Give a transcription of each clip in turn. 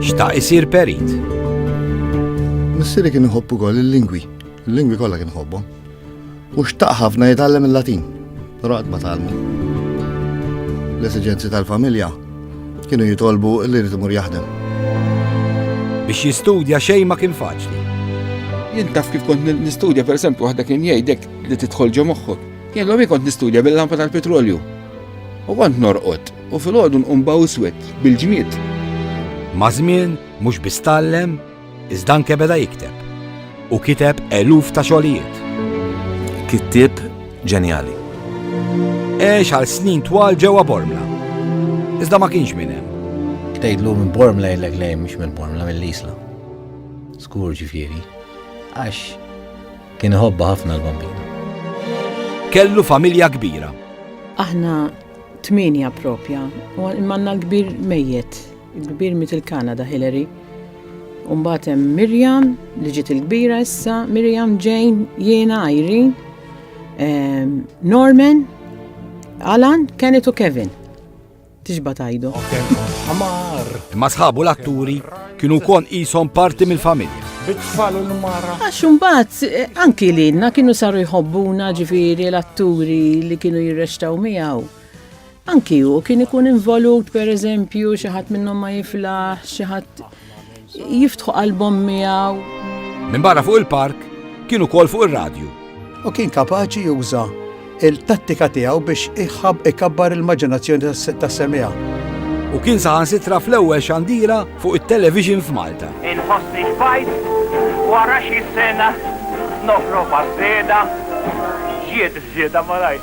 Xtaq isir perit. Missieri kien iħobbu kol il-lingwi, il-lingwi kollha kien iħobbhom. U xtaq ħafna jitgħallem il-Latin, però qatt ma tgħallmu. L-esiġenzi tal-familja kienu jitolbu li jrid imur jaħdem. Biex jistudja xejn ma kien faċli. Jien taf kif kont nistudja, per esempio, waħda kien jgħidek li tidħol ġo moħħok. Jien l kont nistudja bil-lampa tal-petrolju. U kont norqod u fil-ħodu nqum bawswet bil-ġmied. Ma' żmien mhux biss tallem, iżda anke beda jikteb. U kiteb eluf ta' xogħlijiet. Kittieb ġenjali. Għex għal snin twal ġewwa Bormla. Iżda ma kienx minn hemm. Tgħidlu minn Bormla jgħidlek lejn mhux minn Bormla mill-Isla. Skur ġifieri. Għax Kien iħobba ħafna l-bambina. Kellu familja kbira. Aħna tminja propja, u manna l-kbir mejjet, il-kbir mit il-Kanada Hillary. Umbat hemm Mirjam li ġiet il-kbira issa, Mirjam Jane, jiena Irene, ehm, Norman, Alan, Kenneth u Kevin. tixba' tajdu. Imma sħabu l-atturi kienu wkoll qishom parti mill-familja. Bit-tfal u l-mara. Għax imbagħad eh, anki lilna kienu saru jħobbuna ġifieri l-atturi li kienu jirrextaw miegħu. Anki hu kien ikun involut pereżempju xi ħadd minnhom ma jiflaħ, xi ħadd jiftħu qalbhom miegħu. Minn barra fuq il-park kien ukoll fuq ir-radju. U kien kapaċi juża il-tattika tiegħu biex iħab ikabbar il-maġinazzjoni tas-semija. U kien saħansitra fl-ewwel xandira fuq it-television f'Malta. Inħoss li xbajt wara xi sena nofro bażżeda ġiet żieda malaj.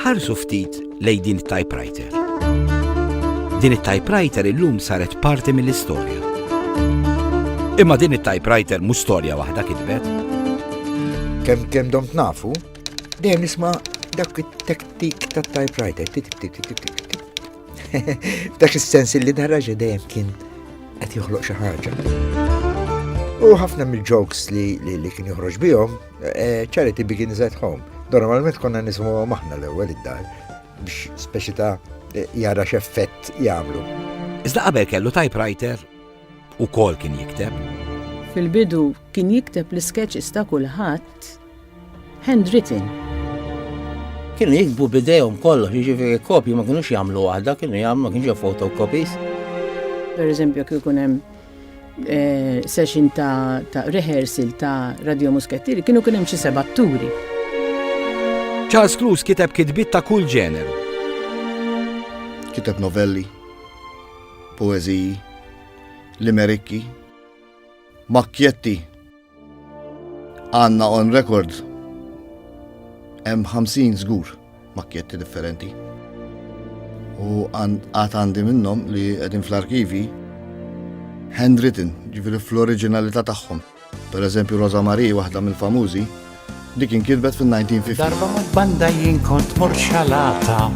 Ħarsu ftit lejn din it-typewriter. Din it-typewriter illum saret parti mill-istorja. Imma din it-typewriter mhux storja waħda kitbet. Kemm kemm dom nafu, dejjem nisma' dak it-tektik tat-typewriter. Dak is-sens li daraġa dejjem kien qed joħloq xi ħaġa. U ħafna mill-jokes li kien joħroġ bihom Eh, charity begins at home. Normalment konna nismu maħna l-ewwel id-dar biex speċi ta' eh, jara x'effett jagħmlu. Iżda qabel kellu typewriter u kol kien jikteb. Fil-bidu kien jikteb l-sketches ta' kulħadd handwritten. Kienu jikbu bidejhom kollox, jiġifieri kopji ma kienux jagħmlu waħda, kienu jagħmlu ma kienx fotocopies. Per eżempju, kif ikun hemm eh, session ta', ta rehearsal ta' Radio Muskettieri kienu kien hemm xi seba' turi. Charles Cruz kiteb kitbit ta' kull ġeneru. Kiteb novelli, poeziji, limerikki, makkjetti Għanna on record hemm 50 żgur makketti differenti. U għad għandi minnhom li qegħdin fl-arkivi handwritten, ġifieri fl-oriġinalità tagħhom. Per eżempju Rosa Marie, waħda mill-famużi, dik inkitbet fil-1950. Darba ma' banda jien kont morxalata.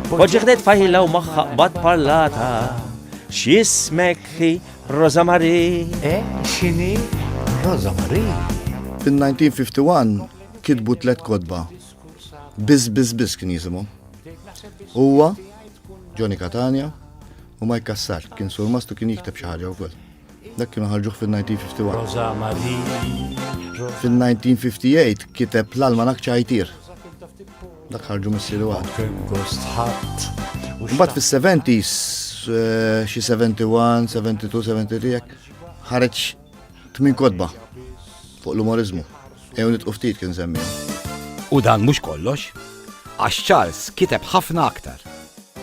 Poġġeħdet fajla u maħħa qbad parlata. X'jismek Rosa Marie. Eh, xini? Rosa Marie. Fil-1951 kitbu tlet kodba. Biz, biz, biz kien jisimu. Uwa, Johnny Catania, u Mike Kassar, kien sur mastu kien jikteb xi ħaġa wkoll. Dak kienu ħarġuh fil-1951. Rosa Marie. Fil-1958 kiteb l-almanak ċajtir. Dak ħarġu missieri waħdu. Kemm gost ħadd. Mbagħad fis-70s eh, xi 71, 72, 73 jekk ħareġ tmin kodba fuq l-umorizmu. Ew nitqu ftit kien semmi. U dan mhux kollox, għax Charles kiteb ħafna aktar.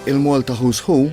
Il-Malta Who's Who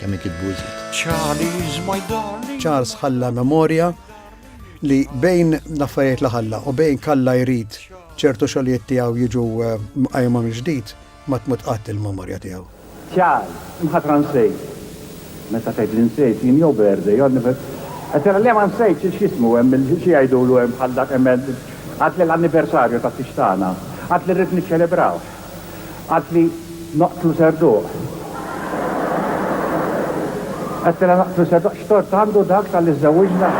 kemm ikitbu iżjed. Charlie's my darling. Charles ħalla memorja li bejn l-affarijiet li ħalla u bejn kalla jrid ċertu xogħlijiet tiegħu jiġu eh, mqajma mill-ġdid ma tmut qatt il-memorja tiegħu. Charles, imħatra nsejt. Meta tgħid li nsejt jien jew birthday, jew anniversary. Qed tara le ma nsejtx il x'jismu hemm il-xi jgħidulu hemm bħal dak hemm għad l-anniversarju ta' tixtana. Għad li rrid niċċelebraw. Qaltli noqtlu Serduq. Għedtilha noqtlu Serduq x'tort għandu dak talli żżewwiġna?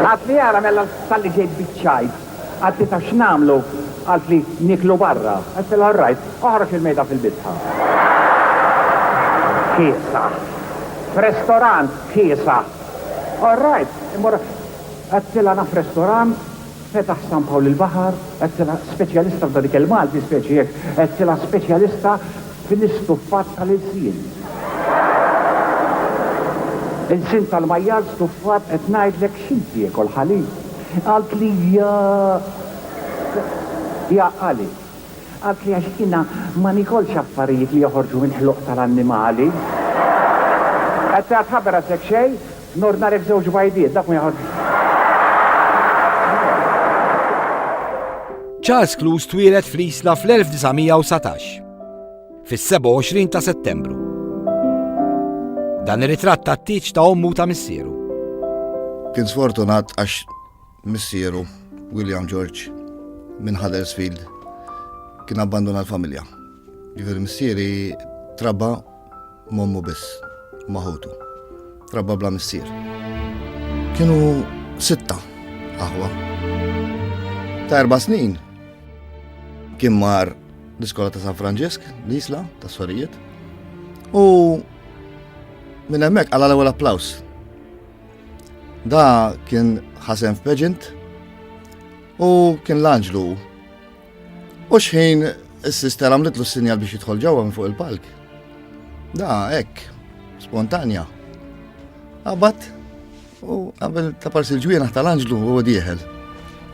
Qaltli ara mela talli ġejt biċ-ċajt. Qaltlitha x'nagħmlu? Qaltli nieklu barra. Għedtilha orrajt, oħroġ il-mejda fil-bitħa. Kiesaħ. F'restorant kiesaħ. All right, immorru hekk. Għedtilha naf restorant, fetaħ San Pawl il-Baħar, għedtilha speċjalista f'dan ikel Malti, speċi hekk, għedtilha speċjalista fl-istuffat tal-ilsien. Ilsien tal-majjal stuffat, qed ngħidlek, x'int tiekol, ħalib? Qaltli, jaa. Jaa, għali? Qaltli għax jiena ma niekolx affarijiet li joħorġu minn ħluq tal-annimali. Qed tgħid tħabber għal Sekt Xej? Nordnarek żewġ bajdiet, dawk ma joħorġux. Charles Clouse twieled fl-Isla fl-1919, fis-27 ta' Settembru. Dan ir-ritratt tat-tieġ ta' ommu ta' missieru. Kien sfortunat għax Missieru, William George, minn Huddersfield, kien abbanduna l-familja. Ġifieri missieri trabba m'ommu biss, ma' ħutu. Trabba bla missier. Kienu sitta aħwa. Ta' erba' snin kien mar l-iskola ta' San Franġisk, l-isla ta' Sorijiet, u minn hemmhekk għal l-ewwel applaus. Da kien ħasem f'peġint u kien l-anġlu. U xħin s-sister għamlitlu s-sinjal biex jidħol ġewwa minn fuq il-palk. Da, hekk, spontanja. Abat, u għabel ta' parsi l-ġwienaħ tal-anġlu u dieħel.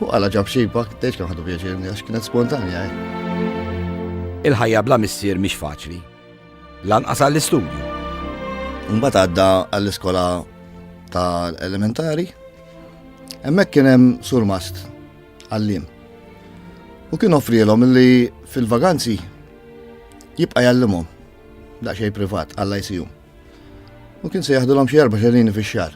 U għala ġab xiba, teċ kam ħadu pjaċir, għax kienet spontanja. Eh. Il-ħajja bla missier mhix faċli. Lanqas għall-istudju. Mbagħad għadda għall-iskola tal-elementari. Hemmhekk kien hemm surmast għallim. U kien offrielhom li fil-vaganzi jibqa' jallimhom daqsxejn privat għall-ICU. U kien se jaħdulhom xi erba' xerini fix-xahar.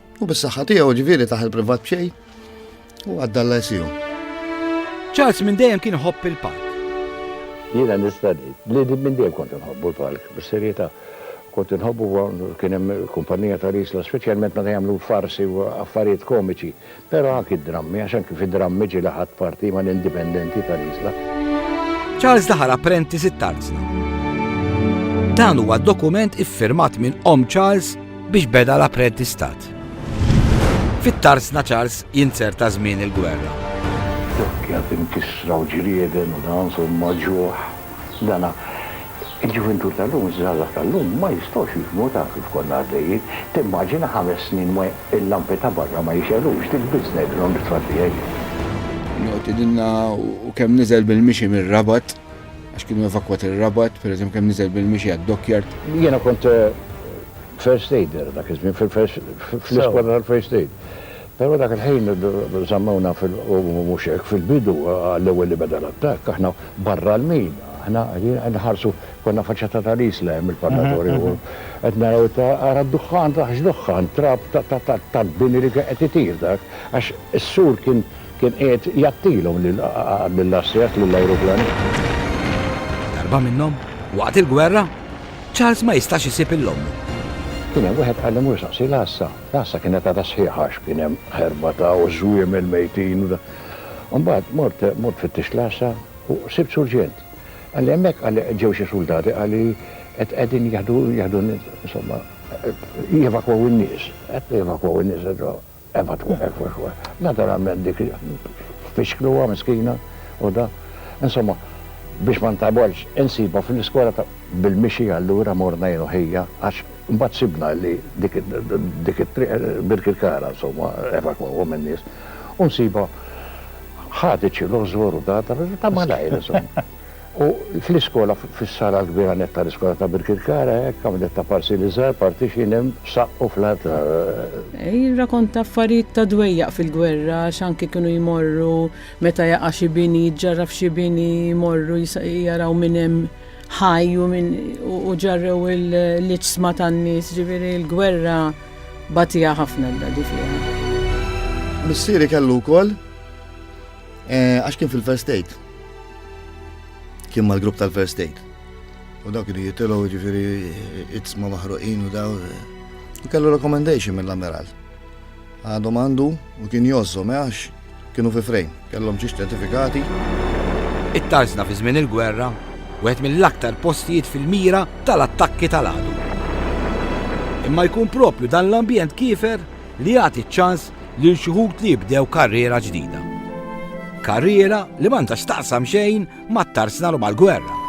U bis-saħħa tiegħu ġifieri taħ il-privat b'xejn u għaddalla jsiju. Charles minn dejjem kien ħobb il-park. Jiena nista' ngħid li din minn dejjem kont inħobbu l-park, bis-serjetà. Kont inħobbu kien hemm kumpanija ta' risla, speċjalment meta jagħmlu farsi u affarijiet komiċi, però anki d-drammi, għax anki fid-drammi ġieli ħadd parti ma' l-indipendenti ta' risla. Charles daħal apprentice it-tarzna. Dan huwa dokument iffirmat minn Omm Charles biex beda l-apprentistat. Fit-tarsna Charles jinzerta żmien il-gwerra. Dokkja tinkisra u ġrieden u dan somma ġuħ. Dana il-ġuvintur tal-lum, iż-żgħażagħ tal-lum ma jistgħux jifhmu ta' kif konna għaddejjin. Timmaġina ħames snin il-lampi ta' barra ma jixegħlux, dik biss ngħidilhom lit-tfal tiegħi. Joqtidilna u kemm niżel bil-mixi mir-Rabat. għax kienu evakwati r-Rabat, pereżempju kemm niżel bil-mixi għad-dockyard. Jiena kont first aider dak iż-żmien fl-iskwadra tal-first aid. Però dak il-ħin żammewna fil u mhux hekk, fil-bidu għall-ewwel li beda l-attakk aħna barra l-mina. Aħna qed nħarsu konna faċċata tal-Isla hemm il-parlatorju u qed naraw ara d-duħħan, x'duħħan, trab tal-bini li kien qed itir dak għax is-sur kien Kien qiegħed jgħattilhom lill-asset, lill-ajruplanisti. Darba minnhom, waqt il-gwerra, Charles ma jistax isib 'il ommu. Kien hemm wieħed qal li mur saqsi l-għassa. L-għassa kienet għadha sħiħa għax kien hemm ħerba ta' u żwiemel mejtin u da. Imbagħad mort mort fittixt l-għassa u sibt surġent. Qalli hemmhekk qalli ġew xi suldati qalli qed qegħdin jeħdu jeħdu insomma jevakwaw in-nies. Qed jevakwaw in-nies. Eva twaqqef u xwa. Naturalment dik fixkluha miskina u da. Insomma, biex ma ntagħbolx, insibha fl-iskola ta' bil-mixi allura morna jien u ħija għax mbagħad sibna li dik dik it-triq Birkirkara insomma evakwawhom in-nies u nsibha ħadet xi lożor u da ta' malajr insomma. U fl-iskola, fis-sala l-kbira nett tal-iskola ta' Birkirkara, hekk, hawn nett ta' parsili żgħar, partition hemm f'saqq u fl-art ta'. Jirrakonta affarijiet ta' dwejjaq fil-gwerra għax anki kienu jmorru meta jaqa' xi bini, jiġġarraf xi bini, jmorru jaraw min hemm ħaj u min u ġarrew l-iġsma tan-nies, jiġifieri l-gwerra bagħtiha ħafna d-dadi fiha. Missieri kellu wkoll għax kien fil-first aid. Kien mal-grupp tal-First Aid. U dawk kienu jitilgħu jiġifieri itzma maħruqin u daw. U kellu recommendation mill-ammiral. Għadhom għandu u kien jgħożżhom eh, għax kienu fi frejn, kellhom xi ċertifikati. It-Tarzna fi żmien il-gwerra, wieħed mill-aktar postijiet fil-mira tal-attakki tal-għadu. Imma jkun proprju dan l-ambjent kiefer li jagħti ċ-ċans lil xi wħud li jibdew karriera ġdida. Karriera li m'għandha x'taqsam xejn mat-tarsnar u mal-gwerra.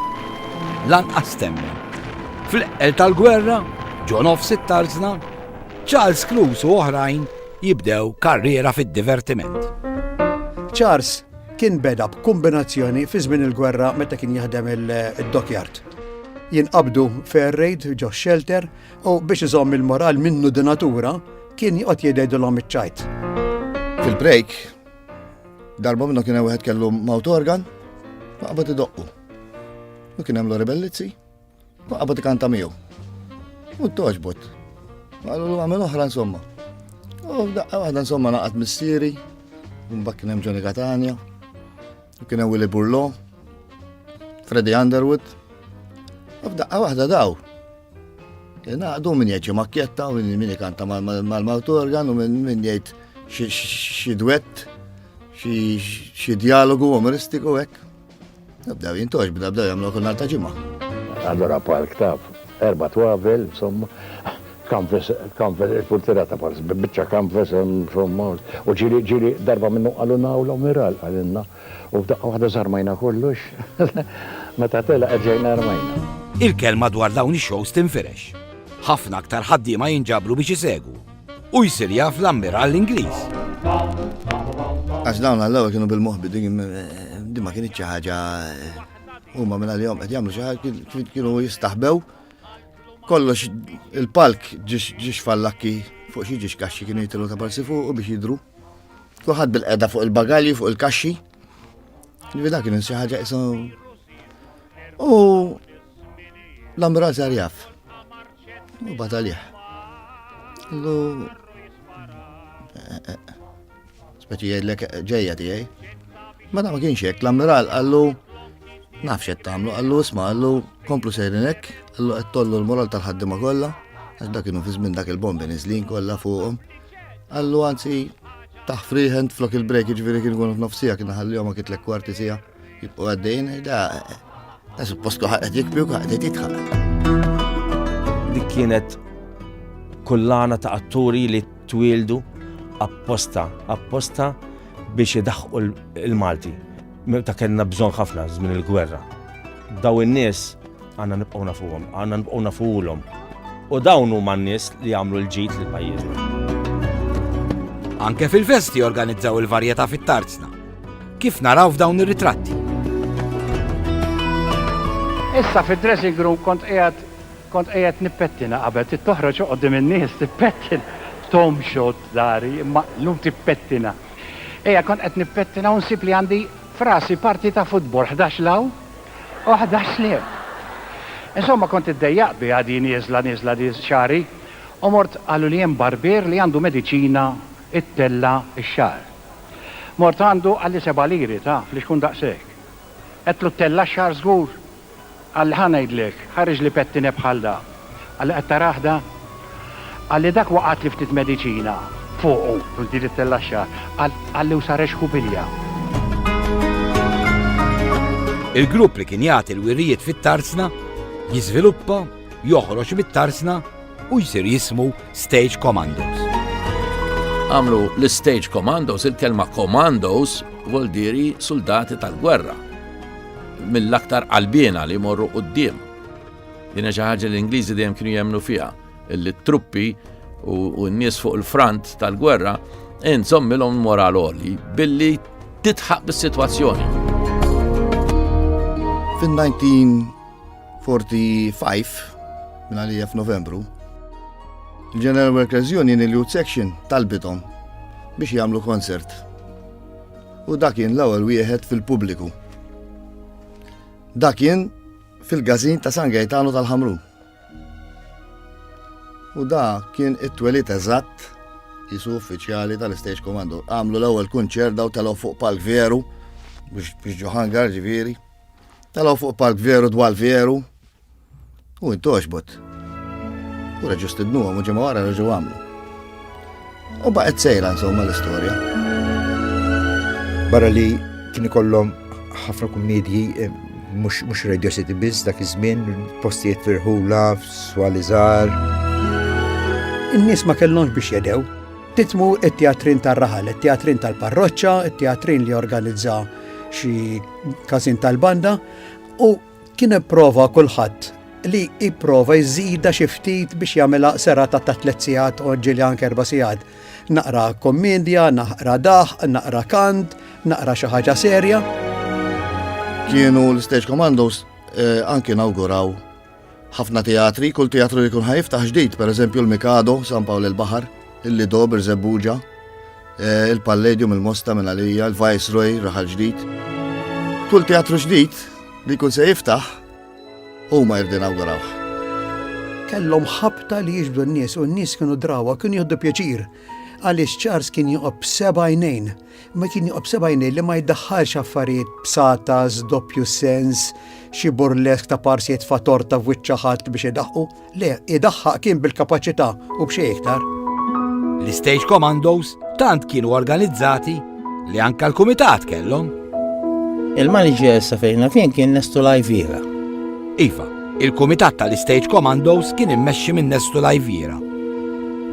Lanqas temmi. Fl-eqqel tal-gwerra, ġo nofs it-tarsna, Charles Cruz u oħrajn jibdew karriera fid-divertiment. Charles kien beda b'kombinazzjoni fi żmien il-gwerra meta kien jaħdem il-dockyard. Jinqabdu fair raid ġo shelter U biex iżomm il-moral minnu di natura, kien joqgħod jgħidilhom iċ-ċajt. Fil-break, darba minnu kien wieħed kellu mawt organ, ma qabad idoqqu. U kien hemm Lori Bellizzi, ma qabad ikanta miegħu. U toġbot. Għallu l għamil oħra insomma. U daqqa waħda insomma naqat missieri, un bakkin hemm ġoni Katania. Kien hemm Willy Burlo, Freddy Underwood, u f'daqqa waħda daw. Naqdu min jgħid xi makkjetta u min ikanta mal-mawt organ u min jgħid xi dwett, xi dialogu umoristiku hekk. Nabdew jintoġ, bdew jagħmlu kull ta' ġimgħa. Allora park taf, erba' twavel, insomma, Canvas, canvas, il-purtira ta' pars, bi biċċa canvas, insomma, u ġieli, ġieli, darba minnhom qalulna hawn l-Ammiral, qalilna, u f'daqqa waħda żarmajna kollox, meta telaq erġajna rmajna. Il-kelma dwar dawn ix-shows tinfirex. Ħafna aktar ħaddiema jinġabru biex isegwu, u jsir jaf l-Ammiral l-Ingliż. Għax dawn għall-ewwel kienu bil-moħbi, din din ma kienitx xi ħaġa huma minn għalihom qed jagħmlu xi ħaġa kienu jistaħbew Kollox il-palk ġiex fallakki fuq xi ġiex kaxxi kienu jitilu ta' palsi fuq u biex jidru. Kuħad bil-qeda fuq il-bagalji fuq il-kaxxi. Nivida kienu xi ħaġa isu. U l-ambulanz jarjaf. U batalih. Lu. Eh, eh, eh. Speċi jgħidlek ġejja tiegħi. Ma da ma kienx hekk, l-ammiral qallu nafx qed tagħmlu, qallu isma' qallu komplu sejrin hekk, qallu qed tollu l-moral tal-ħaddiema kollha, għax dak kienu fi żmien dak il-bombi niżlin kollha fuqhom. Qallu anzi taħfriħen flok il-break ġifieri kien ikun nofsija kien ħallihom kitlek kwarti sija. Jibqgħu għaddejn da suppostu ħaqet jikbi u ħaqet jitħaq. Dik kienet kullana ta' atturi li twildu apposta, apposta biex idaħqu l-Malti. Ta' kellna bżon ħafna żmien il-gwerra. Daw in-nies Għandna nibqgħu nafuhom, għandna nibqgħu nafulhom. U dawn huma n-nies li jagħmlu l-ġid lil pajjiżna. Anke fil-festi organizzaw il-varjetà fit-tarzna. Kif naraw f'dawn ir-ritratti? Issa fid-dressing room kont qiegħed kont qiegħed nippettina qabel trid toħroġ qudiem in-nies tippettina. Tom xod dari imma llum tippettina. Ejja kont qed nippettina u nsib li għandi frasi parti ta' futbol 11 law Waħda sliem. Insomma kont iddejjaq biha di nieżla nieżla di xagħri u mort qaluli hemm barbier li għandu mediċina ittella' x-xagħar. Mort għandu qalli seba' liri taf li xkun daqshekk. Għedtlu ttella' x-xagħar żgur? Qalli ħa ngħidlek, ħariġli pettinè bħal da. Għalli qed tarah dan? Għalli dak waqgħatli ftit mediċina fuqu. Mhux din li ttella' x-xagħar. Għalli u sarex ħubilja. Il-grupp li kien jagħti l-wirjiet fit-Tarsna jiżviluppa, joħroġ mit-Tarsna u jsir jismu Stage Commandos. Għamlu l-Stage Commandos, il-kelma Commandos voldiri soldati tal-gwerra mill-aktar qalbiena li morru qoddim. Din hija xi ħaġa li l-Ingliżi dejjem kienu jemmnu fiha, illi t-truppi u n-nies fuq il-front tal-gwerra inżommilhom moral oli billi titħaq bis-sitwazzjoni. Fin-1945, minn għalija f'Novembru, il-General Workers Union il-Youth Section talbithom biex jagħmlu konsert. U dak kien l-ewwel wieħed fil-pubbliku. Dak kien fil-gazin ta' San Gaetano tal-Ħamru. U da kien it-twelit eżatt jisu uffiċjali tal-Stage Commando. Għamlu l-ewwel kunċert daw telgħu fuq palk veru biex ġoħangar ġifieri. Telgħu fuq palk veru dwar veru. U intoxbot. U reġu stidnu għamu ġemma għara reġu għamlu. U baqet sejra insomma l-istoria. Barra li kien ikollhom ħafna kummedji eh, mhux Radio City biss dak iż-żmien, postijiet firħula, swalizar. In-nies ma kellhomx biex jedew. Titmu it-teatrin tar-raħal, it-teatrin tal-parroċċa, it-teatrin li organizza xi każin tal-banda u Kien ipprova kulħadd li jipprova jżidha xi ftit biex jagħmilha serata ta' tliet sigħat u ġieli anke erba' sigħat. Naqra kommedja, naqra daħ, naqra kant, naqra xi ħaġa serja. Kienu l-Stage Commandos eh, anki nawguraw ħafna teatri, kull teatru li kun ħajftaħ ġdid, per eżempju l-Mikado, San Pawl il-Bahar, il-Lido, Birzebuġa, Il-Palladium, il-Mosta minn għalija, il-Viceroy, raħal ġdid. Kull teatru ġdid li jkun se jiftaħ huma jirdu inawgurawh. Kellhom ħabta li jiġbdu n-nies u n-nies kienu drawa, kienu jieħdu pjaċir. Għaliex Charles kien joqob sebajnejn, ma kien joqob sebajnejn li ma jiddaħħalx affarijiet b'satas, doppju sens, xi burlesk ta' parsijiet fa' torta f'wiċċa ħadd biex idaħqu. Le, idaħħaq kien bil-kapaċità u b'xejn iktar. L-Stage Commandos tant kienu organizzati li anka l-kumitat kellhom. Il-manager sa fejn nafien kien Nestu Lajvira. Iva, il-kumitat tal-Stage Commandos kien immexxi minn Nestu Lajvira.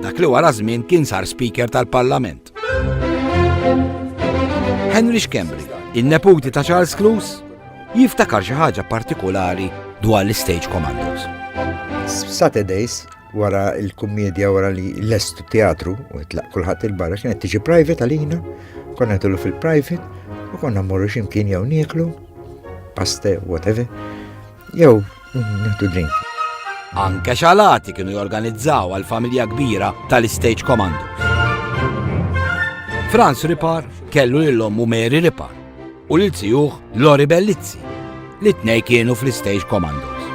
Dak li wara żmien kien sar speaker tal-Parlament. Art. Henry Schembri, il-neputi ta' Charles Clues, jiftakar xi ħaġa partikolari dwar l-Stage Commandos. Saturdays, wara il-kummedja wara li l-estu teatru u jitlaq kulħadd il-barra kienet tiġi private għalina, konna tullu fil-private u konna morru ximkien jew nieklu, paste, whatever. Jew, nieħdu drink. Anke xalati kienu jorganizzaw għal familja kbira tal-Stage Commandos. Franz Ripar kellu l-lommu Mary Ripar u lil tijuħ Lori Bellizzi li t-nej kienu fl-Stage Commandos.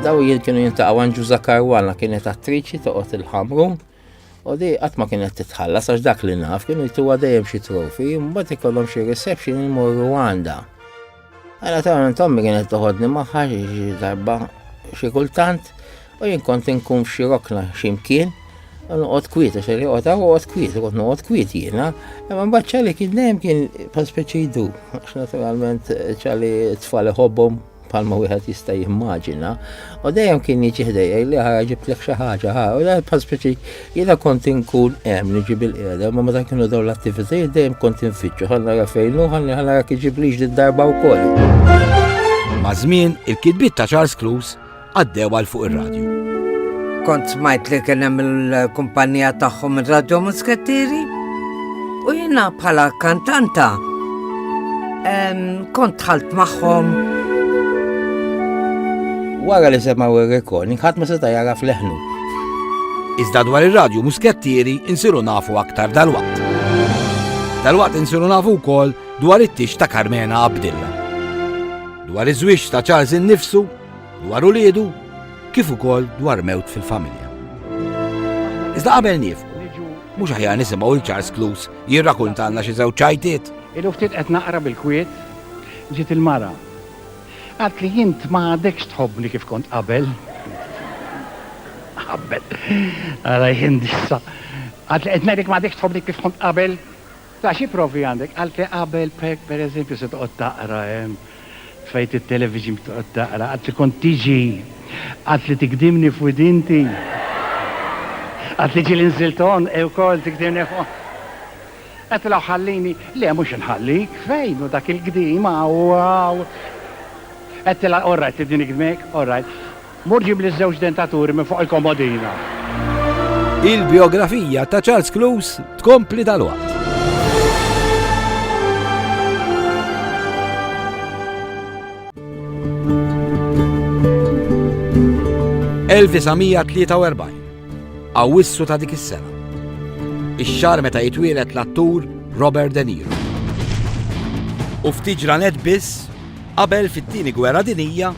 Daw jil kienu jintaqaw għanġu Zakar Walla kienet attriċi toqgħod il-ħamru U di qatt ma kienet titħallas għax dak li naf kienu jtuha dejjem xi trofi, mbagħad ikollhom xi reception imorru għandha. Għala ta' tommi kienet toħodni magħha xi darba xi kultant u jien kont inkun xi rokna x'imkien u noqgħod kwiet għax li qogħod noqgħod kwiet, kont noqgħod kwiet jiena, imma mbagħad ċali kien dejjem kien pa speċi jdu, għax naturalment ċali tfal iħobbhom bħalma wieħed jista' jimmaġina, u dejjem kien jiġi ħdejja li ħara ġibtlek xi ħaġa ħara, u dejjem bħal speċi jiena kont inkun hemm niġi bil-qiegħda, ma meta kienu dawn l-attivitajiet dejjem kont infittxu ħan nara fejn hu ħan nara kif ġiblix din darba wkoll. Ma' żmien il-kitbiet ta' Charles Clues għaddew għal fuq ir-radju. Kont smajt li kien hemm il-kumpanija tagħhom ir-radju Muskettieri? U jiena bħala kantanta kont ħalt magħhom. Wara li semgħu ir-recording ħadd ma seta' jara fleħnu. Iżda dwar ir-radju Muskettieri insiru nafu aktar dal-waqt. Dal-waqt insiru nafu wkoll dwar it-tix ta' Carmena Abdilla. Dwar iż-żwieġ ta' Charles innifsu, dwar ulidu, kif ukoll dwar mewt fil-familja. Iżda qabel nifqu, mhux aħjar nisimgħu l Charles Clues jirrakuntalna xi żewġ ċajtiet. Ilu ftit qed naqra bil-kwiet, ġiet il-mara. Għad li jint ma għadekx tħobbni kif kont qabel. Qabel. Għala jindissa. Għad li qed ngħidlek ma għadekx tħobbni kif kont qabel. La xi provi għandek? Għaltli qabel per eżempju se toqgħod taqra hemm tfejt it-television biex toqgħod taqra, għadtli kont tiġi, għadtli tigdimni f'widinti, għadtli ġieli nżilt għonqi wkoll tigdimni f'għonqi. Qed tgħidli ħallini, le mhux inħallik, fejn hu dak il-gdim hawn hawn. Qed tgħidli all right tibni nigdmek, all right. Murġi bl-iżżewġ dentaturi minn fuq il-komodina. Il-bijografija ta' Charles Close tkompli dalwaqt. ...1943, Awwissu ta' dik is-sena. Ix-xahar meta jitwielet l-attur Robert De Niro. U ftit ġranet biss qabel fit-Tieni Gwerra Dinjija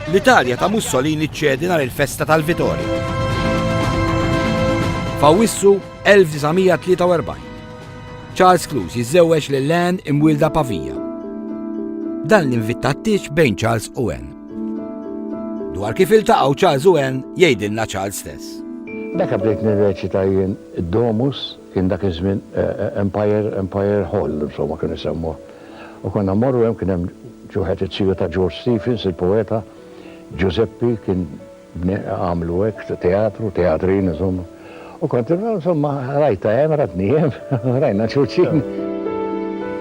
L-Italja ta' Mussolini ċċedi nhar il-festa tal-Vitorja. F'Awwissu 1943, Charles Cluse jiżżewweġ lil Anne imwielda Pavija. Dan l-invitta t-tieġ bejn Charles u Anne. Dwar kif iltaqgħu Charles u Anne jgħidilna Charles stess. Dak bdejt nirreċita jien id-Domus, kien dak iż-żmien eh, eh, Empire, Empire Hall, insomma kienu jsemmuh. U konna mmorru hemm, kien hemm ġuħet it-siju ta' George Stephens, il-poeta, Ġużeppi kien għamlu hekk, teatru, teatrin insomma. U kont, insomma, rajtha hemm, ratni hemm, rajna xulxin.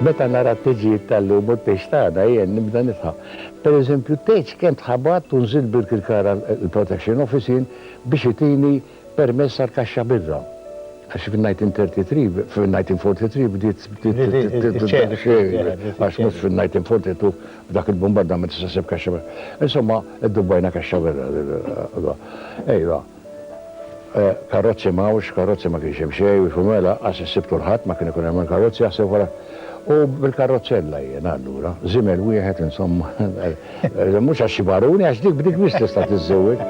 Meta nara t-teġijiet tal-lum u t-tgħix t'għada jien nibda nidħaq. Pereżempju, t-tgħix kemm tħabatt u nżilt bil-kirkara l-protection office jien biex itini permess għall-kaxxa biddha. Għax fin-1933, fin-1943 bdiet tiċċedi, għax mhux fin-1942 b'dak il-bumbardament tista' ssib kaxxa biddha. Insomma, iddubbajna kaxxa biddha. Ejwa, karozzi ma hawnx, karozzi ma kienx hemm xejn, u jkunu għela, qas issibt kulħadd, ma kien ikun hemm il-karozzi, aħseb wara. U bil-karrozzella jiena allura, żiemel wieħed insomma. Mhux għax xi baruni, għax dik b'dik biss tista' tiżżewweġ.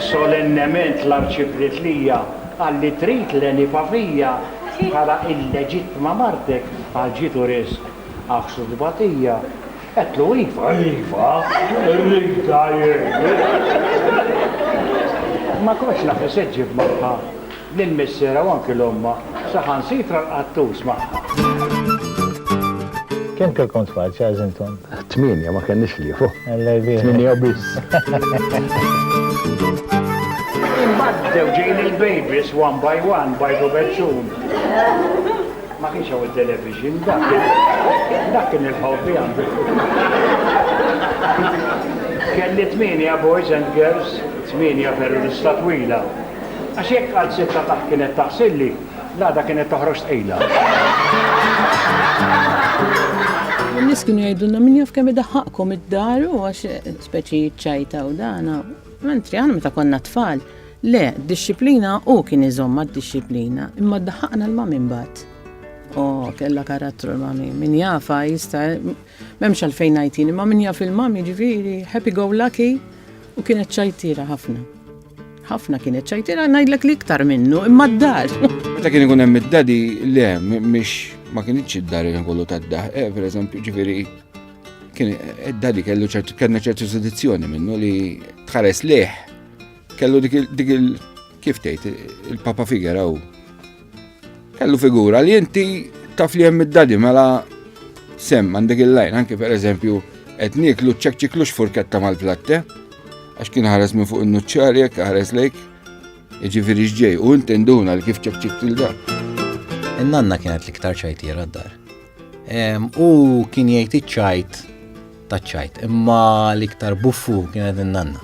Solennement l-Arċipritlija qal li trid Leni Pavija bħala l-leġittima martek għal ġid u riżq. Għaksu t-tbatija, għedtlu iva, iva, rridha jien. Ma kontx naf x'se ġġib magħha. lill-missierha u anki 'l ommha, saħansitra l-qattus magħha. Kemm kellkom tfal, Charles intom? Tmienja, ma kellniex ħliefu. Alla jbierek. Tmienja biss. Imbagħad bdew ġejjin il-babies one by one, bajt u beċċun. Ma kienx hawn it-television, dak kien dak kien il-ħobbi għandi. Kelli tmienja boys and girls, tmienja terrorista twila. Għax jekk qalzit ta' taħt kienet taħsilli, l-għada kienet toħroġ tqila. In-nies kienu jgħidulna min jaf kemm idaħħaqkom id-dar u għax speċi ċajta u dana. Mentri aħna meta konna tfal, le, disċiplina u kien iżomm d-disciplina, imma daħħaqna l mamin bat. O, kella karattru l-mami, min jafa jista, memx għalfejn għajtin, imma min jaf il-mami ġiviri, happy go lucky, u kienet ċajtira ħafna. ħafna kienet ċajtira ngħidlek li iktar minnu imma d-dar. Meta kien ikun hemm id-dadi le mhix ma kienx id-dar kien kollu tad-daħ, eh, pereżempju ġifieri kien id-dadi kellu ċertu kellna ċertu sedizzjoni minnu li tħares leħ kellu dik il kif tgħid il-papa figera u Kellu figura li inti taf li hemm id-dadi mela sem għandek il-lajn, anke per eżempju, qed nieklu ċekċiklux furketta mal-platte, għax kien ħares minn fuq in-nuċċar jekk ħares lejk, jiġifieri x'ġej u inti nduna li kif ċekċik tilda. In-nanna kienet l-iktar ċajtiera d-dar. U kien jgħid iċ-ċajt taċ-ċajt, imma l-iktar buffu kienet in-nanna.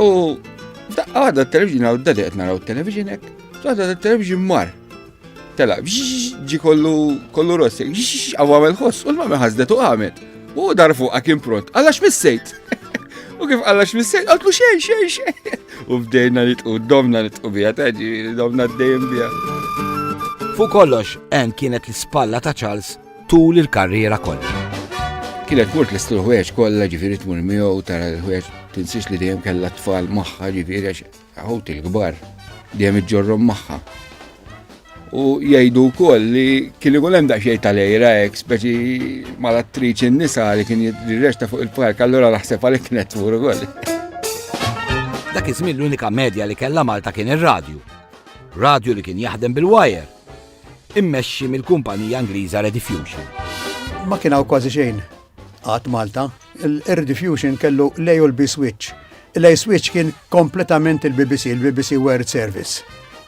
U f'daqqa waħda t-television għaw d-dadi qed naraw t-television hekk, waħda t-television mar. Tela, ġi kollu kollu rossi, għaw għamel ħoss, u l-mamma ħazdet u għamet. U dar fuq għakim pront, għallax missejt. U kif għallax missejt, għatlu xej, xej, xej. U bdejna nitqu, domna nitqu bija, taġi, domna d-dejjem bija. Fu kollox, en kienet l-spalla ta' Charles tul il-karriera kollha. Kienet mort l ħwejġ kollha ġifieri tmur miegħu u tara l-ħwejġ tinsiex li dejjem kellha tfal magħha ġifieri għax ħut il-kbar dejjem iġġorrom magħha. U jgħidu wkoll li kien ikun hemm daqsxejn tal-ejra hekk speċi mal-attriċi n-nisa li kien jirrexta fuq il-park allura naħseb għalhekk kienet tmur ukoll. Dak iż-żmien l-unika medja li kellha Malta kien ir-radju. Radju li kien jaħdem bil-wire immexxi mill-kumpanija Ingliża Rediffusion. Ma kien hawn kważi xejn qatt Malta. Il-Rediffusion kellu l-A u l-B switch. Il-A switch kien kompletament il-BBC, il-BBC World Service.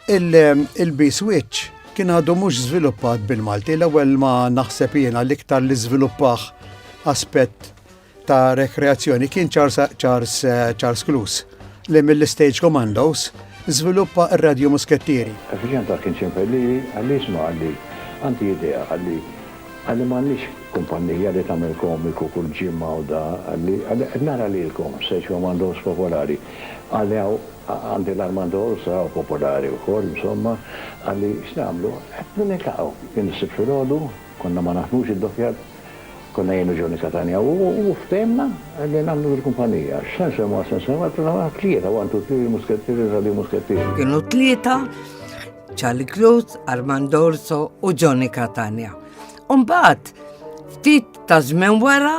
Il-B switch kien għadu mhux żviluppat bil-Malti, l-ewwel ma naħseb jiena l-iktar li żviluppaħ aspett ta' rekreazzjoni kien Charles Clues li mill-Stage Commandos żviluppa r-radju muskettieri. Effiċjent għal kien ċempel lili għalli isma' għalli għandi idea għalli għalli m'għandniex kumpannija li tagħmel komiku kull ġimgħa u da għalli għalli qed nara lilkom Stage Commandos popolari għalli hawn għandi l-Armando Orsà u popolari wkoll insomma għalli x'nagħmlu qed niltaqgħu jien is-Sibt filgħodu konna ma naħdmux id-dokkjar Konna jien u Joe Nicataneo u ftehimna li nagħmlu dil-kumpanija. X'se nsemmwa, x'se nsemmwa, tlajna aħna t-tlieta, one, two, three, il-Muskettieri, Radi Muskettieri. Kienu t-tlieta, Charlie Cruz, Armand Orso u Joe Nicatania. Umbat, ftit ta' żmien wara,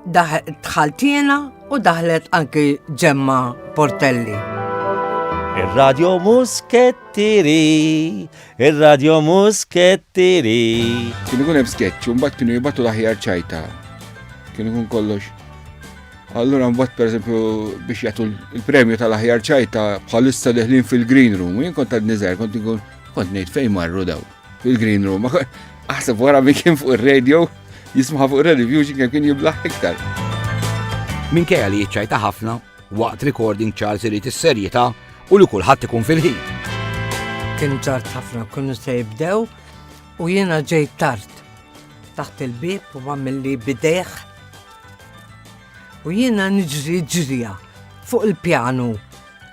dħaltina u daħlet anki ġemma Portelli. Ir-Radio Muskettieri Ir-radjo muskettieri. Kien ikun hemm sketch u mbagħad kienu jibatu l-aħjar ċajta. Kien ikun kollox. Allura mbagħad pereżempju biex jagħtu l-premju tal-aħjar ċajta bħalissa deħlin fil-green room, jien kont għad niżgħar kont ikun kont ngħid fejn marru daw fil-green room. Aħseb wara min kien fuq ir-radio, jismaħ fuq ir-radio, kien jiblaħ iktar. Minkejja li jiċċajta ħafna, Waqt recording Charles irid is-serjetà u li kulħadd ikun fil-ħin. Kien ġart ħafna kienu se jibdew u jiena ġej tard taħt il-bib u għamilli bideħ. U jiena niġri ġrija fuq il-pjanu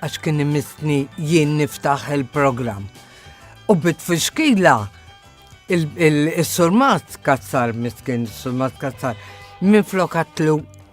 għax kien imissni jien niftaħ il-programm. U bit fixkila il-surmat kazzar miskin, il-surmat kazzar, minn flokatlu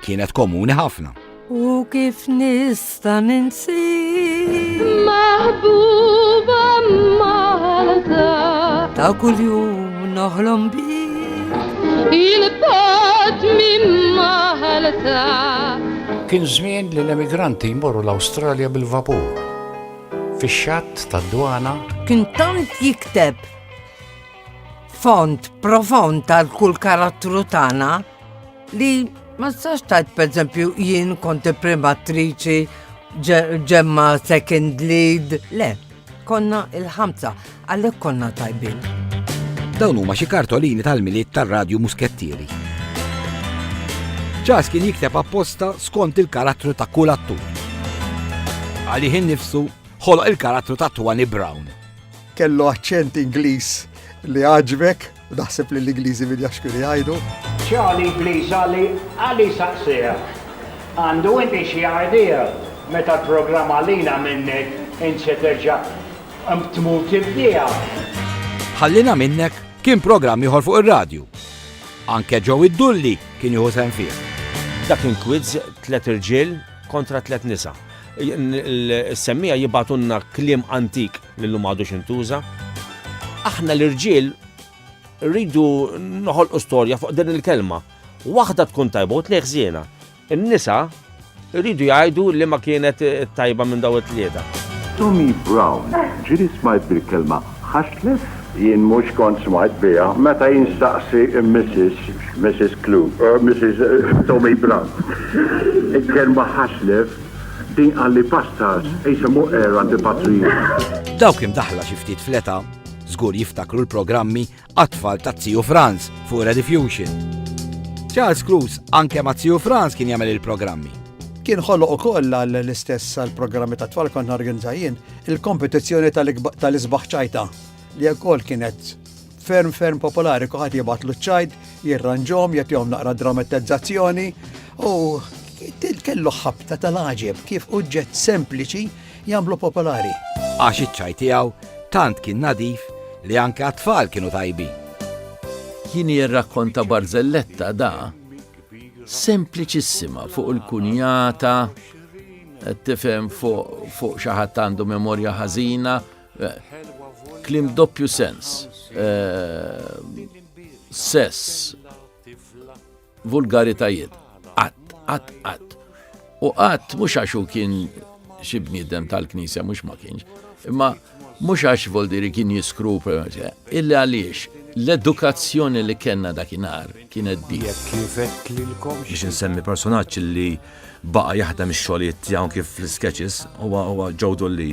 kienet komuni ħafna. U kif nista' ninsi maħbuba Malta ta' kuljum noħlom bik il-bot minn Malta. Kien żmien li l-emigranti jmorru l-Awstralja bil-vapur. Fix-xatt tad-dwana kien tant jikteb font profond tal kull karattru tagħna Li ma stax tajt pereżempju jien konti primatriċi ġemma second lead, le, konna il-ħamsa, għalhekk konna tajbin. Dawn huma xi kartolini tal-miliet tar-radju muskettieri. Ċas kien jikteb apposta skont il-karattru ta' kull attur. Għalih innifsu ħoloq il-karattru ta' Twani Brown. Kellu aċċent Ingliż li għaġbek Naħseb li l-Ingliżi min jaf x'kienu jgħidu. Charlie please Ali, Ali saqsih, Għandu inti xi idea meta l-programm Għalina Minnek int se terġa' tmur tibdieha? Ħallina Minnek kien programm ieħor fuq ir-radju. Anke Joey Dulli kien jieħu sehem fih. Dak kien kwizz tliet irġiel kontra tliet nisa. Is-semmija jibgħatunna kliem antik li llum m'għadux intuża. Aħna l-irġiel rridu noħolqu storja fuq din il-kelma. Waħda tkun tajba u tnejn ħżiena. In-nisa rridu jgħidu li ma kienet tajba minn daw it-tlieta. Tommy Brown ġiri smajt bil-kelma ħaxlef? Jien mhux kont smajt biha. Meta jien staqsi Mrs. Mrs. Clue, Mrs. Tommy Brown, il-kelma ħaxlef Din qalli pastors qisem hu għera antipatriota. Dawk imdaħħla xi ftit fl-età żgur jiftakru l-programmi għat-tfal ta' Ziju Franz fuq Rediffusion. Charles Cruz anke ma' Ziju Franz kien jagħmel il-programmi. Kien ħoloq ukoll għal l-istess għal programmi ta' tfal kont norganizza jien il-kompetizzjoni tal-isbaħ ċajta li wkoll kienet ferm ferm popolari, kuħat jibatlu ċajd, jirranġom, jatjom naqra dramatizzazzjoni u kellu ħabta tal-ħagġeb kif uġġet sempliċi jamlu popolari. Għax iċ-ċaj tiegħu tant kien nadif li anke għat-tfal kienu tajbi. Kien jirrakkonta barzelletta da sempliċissima fuq il-kunjata tifhem fuq xi ħadd għandu memorja ħażina Klim doppju sens. Sess. Vulgaritajiet. Qatt, qatt, qatt. U qatt mhux għax hu kien xi bniedem tal-Knisja mhux ma kienx. Imma mhux għax voldiri kien jiskru illi għaliex l-edukazzjoni li kellna dakinhar kienet di. Biex insemmi personaġġ li baqa' jaħdem ix-xogħlijiet tiegħu kif fl-sketches huwa huwa Joe Dolli.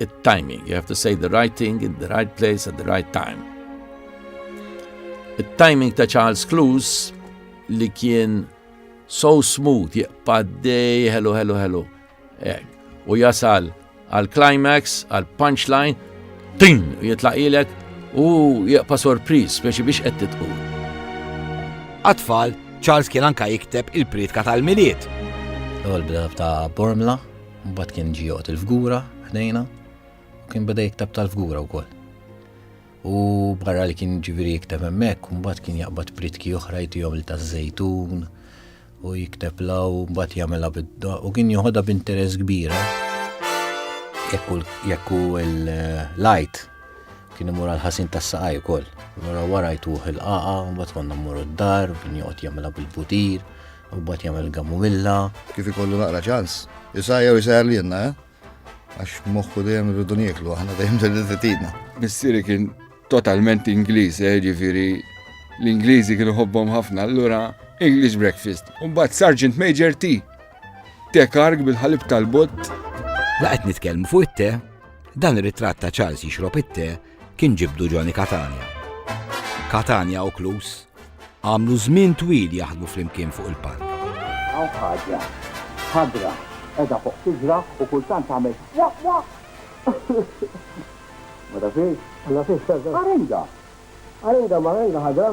It-timing, you have to say the right thing in the right place at the right time. It-timing ta' Charles Clues li kien so smooth, jqpaddej, hello, hello, hello. Eh, u jasal għal-climax, għal-punchline, tin, jitlaqilek u jaqpa sorpriz biex biex qed titqu. Atfall, Charles kien anka jikteb il-pritka tal-miliet. L-ewwel ta' Bormla, Mbagħad kien ġie joqgħod il-fgura ħdejna u kien beda jikteb tal-fgura wkoll. U barra li kien ġifieri jikteb hemmhekk, mbagħad kien jaqbad pritki oħra jtihom li taż-żejtun u jikteb law mbagħad jagħmilha bidda u kien joħodha b'interess kbira. Jekk hu l-lajt kien imur għal ħasin tas-saqaj ukoll. Wara wara jtuħ il-qaqa, mbagħad konna mmur d-dar, kien joqgħod jagħmilha bil-butir. U mbagħad jagħmel il-gamumilla. Kif ikollu naqra ċans, isajja u jsajjar lilna, eh? Għax moħħu dejjem irridu nieklu aħna dejjem dejjem titidna. Missieri kien totalment Ingliż, eh, ġifieri l-Ingliżi kienu ħobbhom ħafna, allura English breakfast. Mbagħad Sergeant Major tea. Te karg bil-ħalib tal-bott. Laqgħet nitkellmu fuq it-te, dan ir-ritratt ta' Charles jixrob it-te kien ġibdu Johnny Catania. Catania u Klus għamlu żmien twil jaħdmu flimkien fuq il-palk. Għaw ħaġa, ħadra, edha fuq tiġra u kultant għamil waq waq. Ma tafiex? Ma tafiex, Arenga. Arenga, ma arenga ħadra.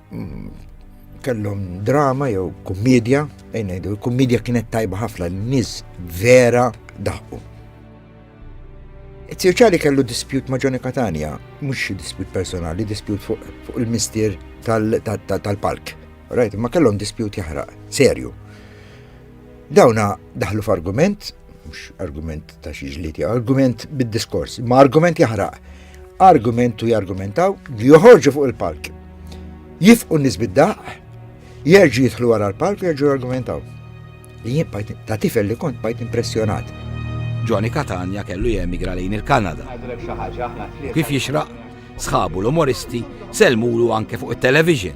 kellhom drama jew kummedja, ejn ngħidu l-kummedja kienet tajba ħafna n-nies vera daħqu. Tirċali kellu dispjut ma' Johnny Catania, mhux dispjut personali, dispjut fuq il-mistier tal-palk. Rajt, ma kellhom dispjut jaħraq, serju. Dawna daħlu f'argument, mhux argument ta' xi ġliti, argument bid-diskors, ma argument jaħraq. Argumentu jargumentaw, joħorġu fuq il-palk. Jifqu n-nies bid-daq, jerġu jidħlu wara l-palk u jerġu jargumentaw. Li jien bajt ta' tifel li kont bajt impressjonat. Johnny Katanja kellu jemigra lejn il-Kanada. Kif jixraq, sħabu l-umoristi selmulu anke fuq it-television.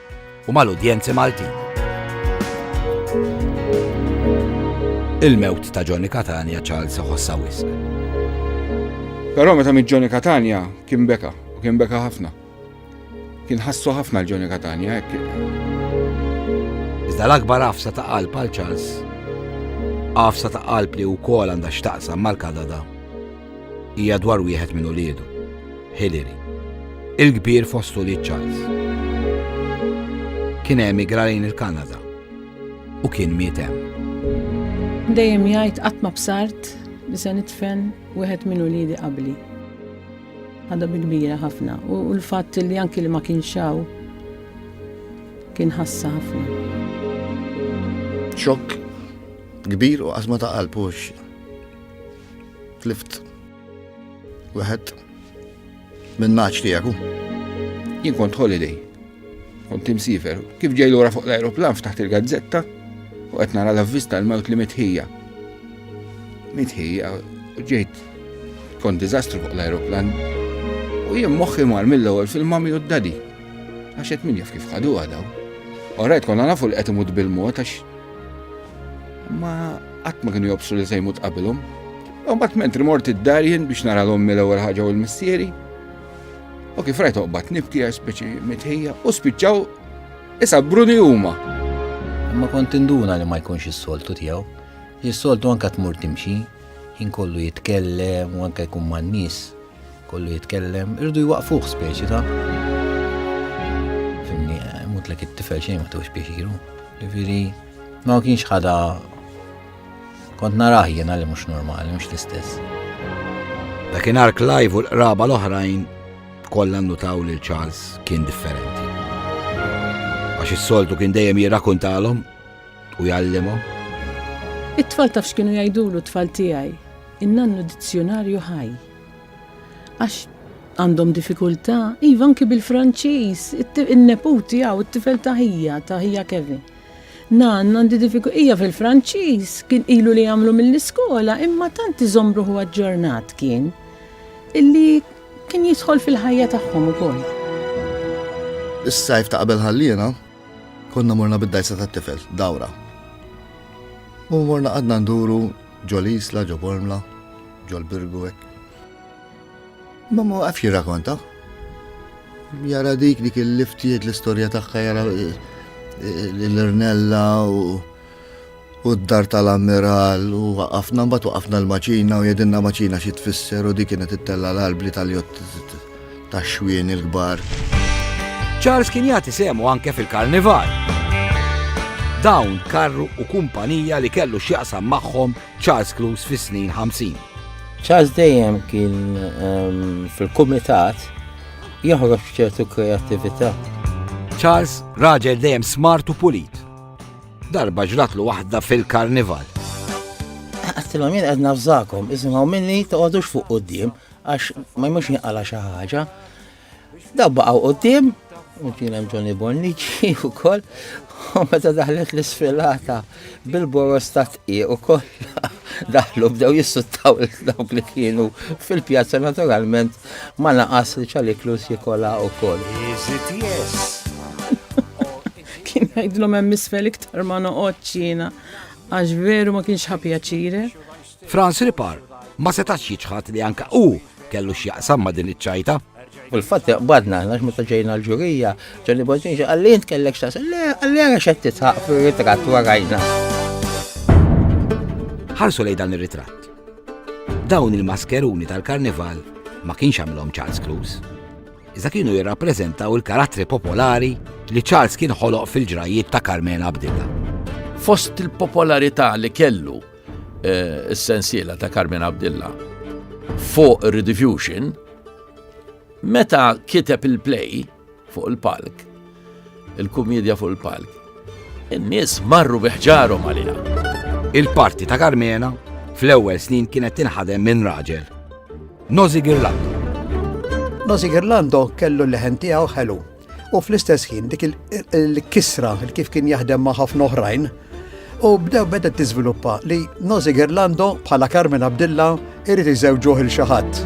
u mal-udjenzi Maltin. Il-mewt ta' Johnny Catania Charles ħossa wisq. Però meta mit Johnny Catania kien beka, u kien beka ħafna. Kien ħassu ħafna l-Johnny Catania hekk. Iżda l-akbar għafsa ta' qalb għal Charles, għafsa ta' qalb li wkoll għandha x'taqsam mal-Kanada Hija dwar wieħed minn uliedu, Hilary, il-kbir fost ulied Charles. Kien emigra lejn il-Kanada u kien miet hemm. Dejjem jgħid qatt ma bsart li se nitfen wieħed minn uliedi qabli. Għadha bi kbira ħafna u l-fatt li anki li ma kienx hawn kien ħassa ħafna. Xokk kbir u għazma ta' qalb Tlift. Wieħed minn naċ tiegħek. Jien kont holiday. Kont imsifer. Kif ġej lura fuq l-ajruplan ftaħt il-gazzetta u qed nara l-avvista l-mewt li mitħija. Mitħija u ġejt kont diżastru fuq l-ajruplan. U jien moħħi mar mill-ewwel fil-mami u d-dadi. Għax qed min jaf kif ħadu għadaw. Orajt konna nafu l-qed imut bil-mod għax ma Qatt ma kienu jobsu li se jmut qabilhom. U mbagħad mentri mort id-dar jien biex nara l-ommi l-ewwel ħaġa u l-missieri. U kif rajt oqbad nibti għax speċi mitħija u spiċċaw isa bruni huma. Imma kont induna li ma jkunx is-soltu tiegħu. Is-soltu anke tmur timxi, jien kollu jitkellem u anke jkun man-nies. Kollu jitkellem, irdu jwaqfuh speċi ta' fimni, mutlek it-tifel xejn ma tewx pjaċiru. Ġifieri, ma kienx ħada kont narah jiena li mhux normali, mhux l-istess. Dakinhar Clive u l-qraba l-oħrajn kollha nnutaw li Charles kien differenti. Għax is-soltu kien dejjem jirrakuntalhom u jgħallimhom. It-tfal taf x'kienu jgħidulu t-tfal tiegħi. In-nannu dizzjunarju ħaj. Għax għandhom diffikultà, iva anki bil-Franċiż, in-neput tiegħu, it-tifel ta' ħija, ta' ħija Kevin. Nanna għandi diffikultà, hija fil-Franċiż, kien ilu li jagħmlu mill-iskola, imma tant iżombruħu aġġornat kien, illi kien jidħol fil-ħajja tagħhom ukoll. Is-sajf ta' qabel ħalliena, konna morna bid-dajsa tat-tifel, dawra. U morna għadna nduru Ġo l-Isla, ġo Bormla, ġo l-Birgu hekk. Imma ma waqafx jirrakonta. Jara dik dik il-liftijiet l-istorja tagħha jara l-irnella u u d-dar tal-ammiral u waqafna mbagħad waqafna l-maċina u jedinna maċina xi tfisser u dik kienet ittella l-qalb li tal-jott tax-xwieni l-kbar. Charles kien jagħti semu anke fil-karnival. Dawn karru u kumpanija li kellu x'jaqsam magħhom Charles Clues fis-snin 50. Charles dejjem kien ehm, fil-kumitat joħroġ ċertu kreattività. Charles raġel dejjem smart u pulit. Darba ġratlu waħda fil-karnival. Għattilom jien għedna fżakom, isimgħu minni toqgħodux fuq qudiem, Għax ma jmux jinqala xi ħaġa. Daw baqgħu quddiem, kien hemm Johnny Bonnici wkoll, u meta daħlet l-isfilata bil-boros ta' tqieq u kollha daħlu bdew jissuttaw dawk li kienu fil-pjazza naturalment ma naqas li ċaliklus jikola u koll. Kien jgħidlhom hemm isfel iktar ma noqgħodx jiena għax veru ma kienx ħapjaċire. Franz Ripar ma setax jiċħad li anke hu kellu x'jaqsam ma' din iċ-ċajta. U l-fatt jaqbadna, għax meta ġejna l-ġurija, ġenni Bonġin ġa għalli jint kellek xtas, le għalli għara xed titħaq fil-ritrat warajna. Ħarsu lej dan il-ritrat. Dawn il-maskeruni tal-karnival ma kienx għamilhom Charles Cruz. Iżda kienu jirrappreżentaw il-karattri popolari li Charles kien ħoloq fil-ġrajiet ta' Carmena Abdilla. Fost il-popolarità li kellu is-sensiela ta' Carmine Abdilla fuq Rediffusion, meta kiteb il-play fuq il-palk, il-kumedja fuq il-palk, in-nies marru biħġarhom għalija. Il-parti ta' Carmena fl-ewwel snin kienet tinħadem minn raġel. Nozi Girlando. Nozi Girlando kellu l-leħen tiegħu ħelu U fl-istess ħin dik il-kisra kif kien jaħdem ma' ħafna oħrajn, u bdew beda tiżviluppa li Nozi Gerlando bħala Carmen Abdilla irid iżewġuh il xi ħadd.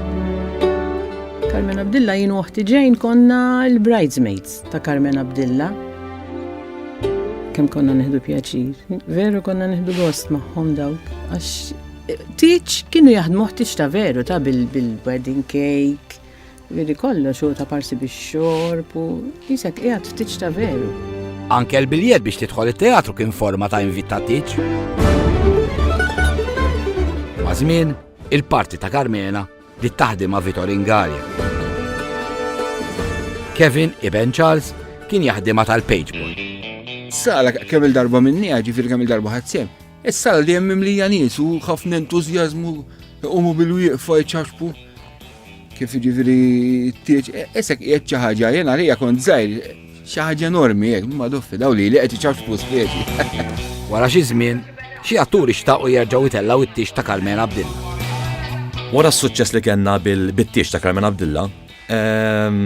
Carmen Abdilla jien uħti ġejn konna l-bridesmaids ta' Carmen Abdilla. Kemm konna neħdu pjaċir. Veru konna neħdu gost magħhom dawk għax tiċ kienu jaħdmu ħtiċ ta' veru ta' bil-wedding cake, Vidi kollox hu ta' parsi bix-xorb u qisek qiegħed f'tieġ ta' veru. Anke l-biljett biex tidħol it-teatru kien forma ta' invit ta' tiġ. Ma' żmien, il-parti ta' Carmena li taħdem ma' Vitor Ingarja. Kevin Iben Charles kien jaħdimha tal-Pageboy. Sala kemm il-darba minni, ġifir kemm il-darba ħadsem. Is-sala li hemm mimlija nies u ħafna entużjażmu iqumu bil-wieqfa jċaxpu kif jiġifieri t-tieġ, isek e, qiegħed xi ħaġa jien għalija kont żgħir, xi ħaġa enormi hekk, ma doffi daw li li qed iċaxpu speċi. Wara xi żmien, xi atturi xtaqu jerġgħu jtellgħu it-tieġ ta' Carmen Abdilla. Wara s-suċċess li kellna bil-tieġ ta' Carmen Abdilla, ehm,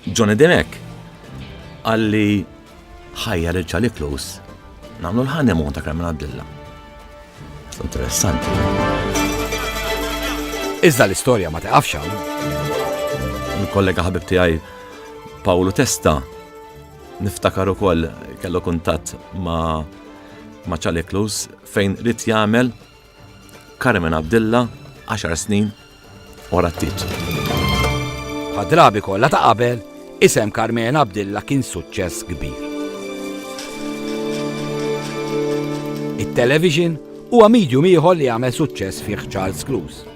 Johnny Demek għalli ħajja lil Charlie Close nagħmlu l-ħanemon ta' Carmen Abdilla. Interessanti. Iżda l-istorja ma taqafx Il-kollega ħabib tiegħi Paolo Testa niftakar ukoll kellu kuntatt ma' ma' Charlie Close fejn rrit jagħmel Carmen Abdilla, 10 snin, orattiet. Bħad-drabi kollha ta' qabel, isem Carmen Abdilla kien suċċess kbir. It-television huwa medium ieħor li għamel suċċess fih Charles Clouse.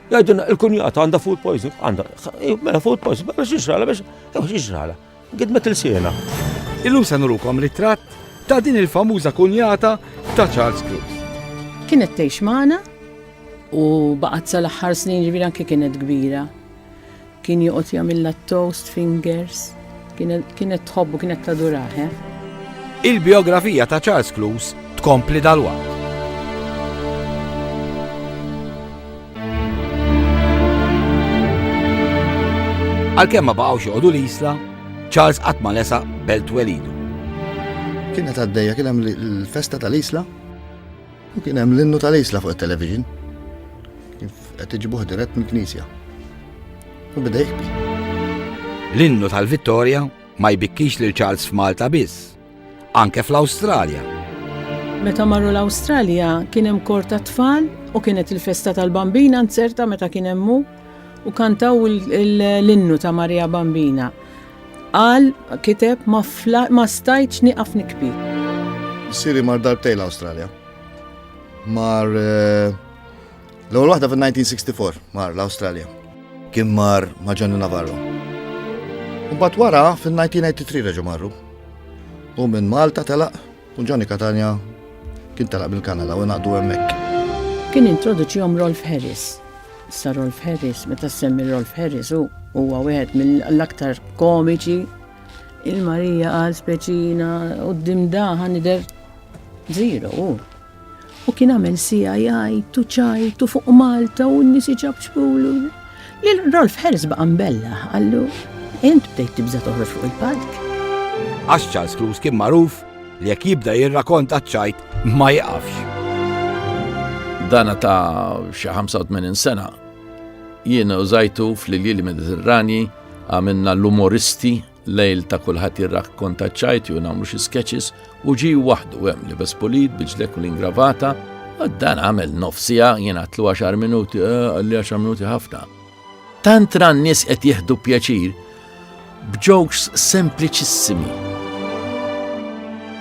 Għajduna, il-kunjata għanda food poison, għanda, mela food poison, mela biex iġrala, biex iġrala, gidmet il-siena. Illum se nurukom ritratt ta' din il-famuża kunjata ta' Charles Cruz. Kienet tgħix magħna u baqgħet sal-aħħar snin ġifieri anke kienet kbira. Kien joqgħod jagħmilha t-toast fingers. Kienet tħobb u kienet tadurah, eh? Il-bijografija ta' Charles Clouse tkompli dalwaqt. Għalkemm ma baqgħux joqogħdu l-isla, Charles qatt ma lesa belt welidu. Kienet għaddejja kien hemm il-festa tal-isla U kien hemm l-innu tal-isla fuq it-television. Kif qed iġibuh dirett mill-knisja. U bidej jħbi. L-innu tal-Vittoria ma jbikkix lil Charles f'Malta biss, anke fl-Awstralja. Meta marru l-Awstralja kien hemm kor ta' tfal u kienet il-festa tal-Bambina nzerta meta kien hemmu u kantaw l-innu ta' Maria Bambina. Qal, kiteb, ma stajtx niqaf nikbi. Siri mar darbtej l-Awstralja. Mar eh, l-ewwel waħda fin-1964 mar l-Awstralja. Kien mar ma' Johnny Navarro. Mbagħad wara fin-1983 reġa' marru. U minn Malta telaq U Johnny Catania kien telaq mill-Kanada u ngħaqdu hemmhekk. Kien introduċihom Rolf Harris. Issa Rolf Harris, meta ssemmi Rolf Harris hu huwa wieħed mill-aktar komiċi il-Marija għal speċina u d-dimdaħa nider zero u. U kien għamel sija jgħid u ċajt u fuq Malta u n-nies iċabċbulu. Lil Rolf Harris baqa' mbella, għallu, int bdejt tibża' toħroġ fuq il-palk. Għax Charles Cruz kien magħruf li jekk jibda jirrakonta ċajt ma jaqafx. Dana ta' xi 85 sena jiena użajtu fl-Iljieli Mediterranji għamilna l-umoristi Lejl ta' kulħadd jirrakkonta ċajti u nagħmlu xi sketches u ġi waħdu hemm li bespulit biġlek u l-ingravata dan għamel nofsija jien għatlu 10 minuti, eh, għalli 10 minuti ħafna. Tant ran nies qed jieħdu pjaċir b'jokes sempliċissimi.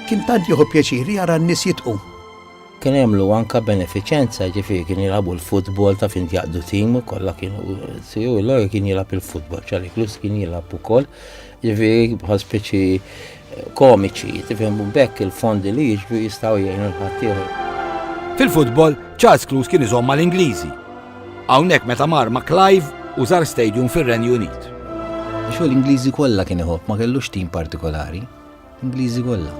Kien tant jieħu pjaċir jara n-nies jitqu. Kien għamlu anka benefiċenza, ġifieri kien jilagħbu l-futbol ta' fin jaqdu tim, kollha kienu siju l kien jilgħab il-futbol, ċalik lus kien jilgħab ukoll, ġifieri bħal speċi eh, komiċi, tifhem bekk il-fondi li jiġbu jistgħu jgħinu l-ħaddieħor. Fil-futbol, Charles Clues kien iżomm mal-Ingliżi. Hawnhekk meta mar ma' Clive u żar stadium fir-Renju Unit. Xogħol l-Ingliżi kollha kien iħobb ma kellux tim partikolari. Ingliżi kollha.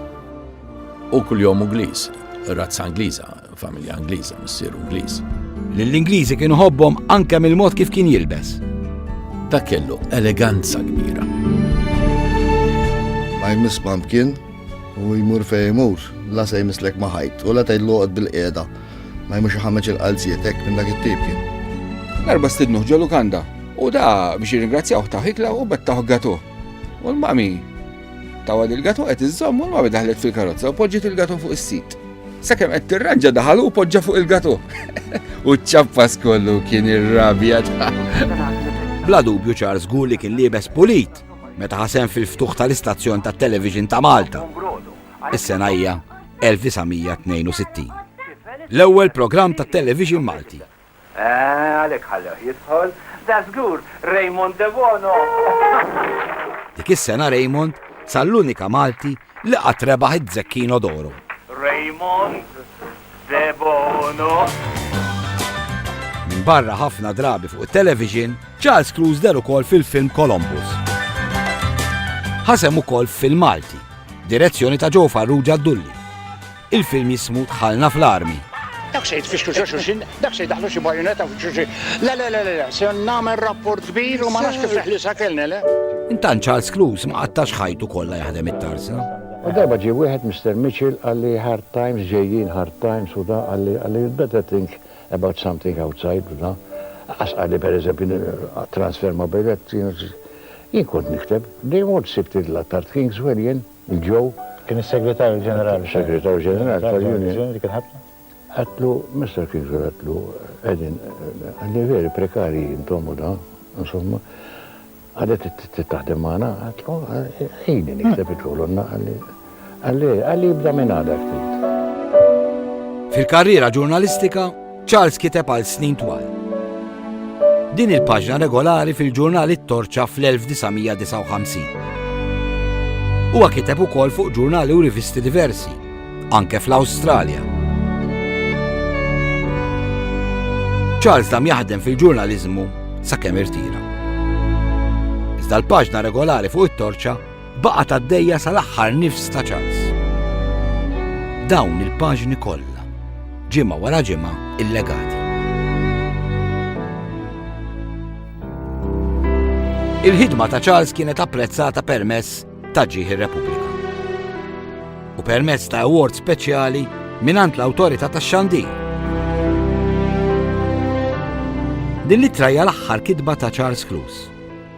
U kuljom Ingliż, razza Ingliża, familja Ingliża, missier Ingliż. Lill-Ingliżi kienu ħobbhom anke mill-mod kif kien jilbes. Ta' kellu eleganza kbira. Ma jmiss pumpkin u jmur fej jmur, la se jmisslek ma ħajt, u la tgħid loqgħod bil-qiegħda. Ma jmux ħameġ il-qalzietek minn dak it-tip kien. Darba stidnuh ġolu kanda, u da biex jirringrazzjawh taħ ikla u bet taħ gatu. U l-mami tawa il gato qed iżomm u l-mami daħlet fil-karozza u poġġiet il-gato fuq is-sit. Sakemm qed tirranġa daħal u poġġa fuq il-gato. U ċappas kollu kien irrabjat. Bla dubju Charles żgur li kien liebes pulit meta ħasem fil-ftuħ tal-istazzjon tat-television ta' Malta. Is-sena hija 1962. L-ewwel programm tat-television Malti Eeh, għalhekk ħallewh jidħol. Dażgur, Raymond Debono! Dik is-sena Raymond sar l-unika Malti li qatt rebaħ iz-Zecchino d'Oro. Raymond Debono. Minbarra ħafna drabi fuq it-television, Charles Cruise deher ukoll fil-film Columbus. Ħasem ukoll f'film Malti, direzzjoni ta' Joe Farrugia Dulli. Il-film jismu Dħalna fl-Armi. Dak se jitfixklu xi xulxin, dak se jdaħlu xi bajonetta fuq xulxin. Le, le, le, le, se nagħmel rapport kbir u ma nafx kif li sakelni, le. Intant Charles Cruise ma qattax ħajtu kollha jaħdem it-tarsa. U darba ġie wieħed Mr. Mitchell qalli hard times ġejjin, hard times u da qalli qalli you'd better think about something outside u da. Qas qalli pereżempju transfer ma' biljett jien kont nikteb. They all sibt it l-attard Kingswell jien. Joe. Kien is-Segretarju Ġenerali tal-. Segretarju Ġenerali tal-Union dik il-ħabta. Għedtlu, Mister Kingswell għedtlu, qegħdin qegħdin veri prekarji intom u da, insomma, għadet taħdem magħna, għedtlu, ħini nikteb il-kolonna għalli għalli għalli jibda minn għada ftit. Fil-karriera ġurnalistika, Charles kiteb għal snin twal. Din il-paġna regolari fil-ġurnal it-Torċa fl-1959. Huwa kiteb ukoll fuq ġurnali u rivisti diversi, anke fl-Awstralja. Charles dam jaħdem fil-ġurnaliżmu sakemm irtira. Iżda l-paġna regolari fuq it-Torċa Baqgħet għaddejja sal-aħħar nifs ta' ċans. Dawn il-paġni kollha, ġimgħa wara ġimgħa illegati. Il-ħidma ta' Charles kienet apprezzata permess ta' ġieħ ir-Repubblika. U permess ta' award speċjali minant l-awtorità ta' xandir. Din l-ittra l-aħħar kitba ta' Charles Cruise.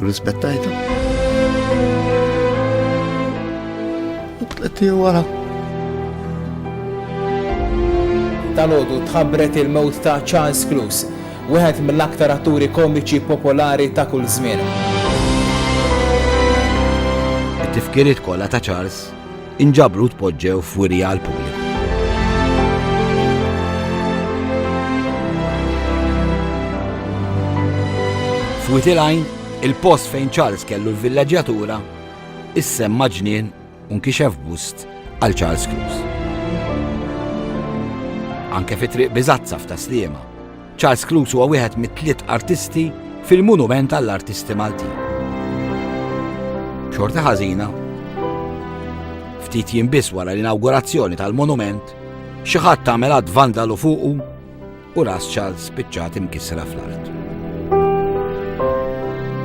Rispettajta. U tletti wara. Tal-ħodu tħabbret il-mewt ta' Charles Clues, wieħed mill-aktar atturi komiċi popolari ta' kull żmien. It-tifkiriet kollha ta' Charles inġabru u tpoġġew f'wirja għall-pubbliku. F'Wied il-Għajn, il-post fejn Charles kellu l-villaġġjatura, issemma ġnien u nkixef bust għal Charles Cruz. Anke fi triq biżazza f'Taslima, Charles Cluse huwa wieħed mit-tliet artisti fil-Monument għall-Artisti Maltin. Xorta ħażina, ftit jien biss wara l-inawgurazzjoni tal-monument, xi ħadd tagħmel għad vandalu fuqu u ras Charles spiċċat imkissra fl-art.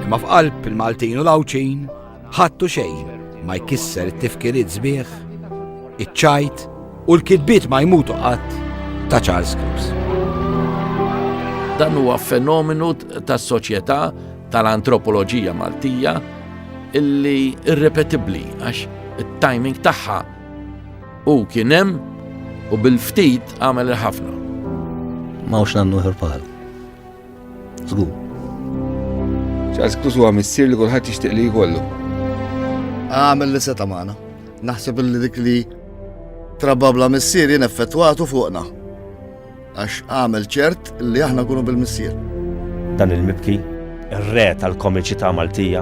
Imma f'qalb il-Maltin u l-Awċin, Ħadd u xejn ma jkisser it-tifkiriet sbieħ, iċ-ċajt u l-kitbiet ma jmutu qatt ta' Charles Cruz. Dan huwa fenomenu tas-soċjetà tal-antropoloġija Maltija illi irrepetibbli għax it-timing tagħha u kien hemm u bil-ftit għamel il-ħafna. Ma hux nagħmlu ħirpal. Żgur. Charles Cruz huwa missier li kulħadd jixtieq li jkollu. Għamel li seta' magħna. Naħseb li dik li trababla missier jien effettwatu fuqna. Għax għamel ċert li aħna kunu bil-missier. Dan il-mibki, ir-re tal-komiċità Maltija,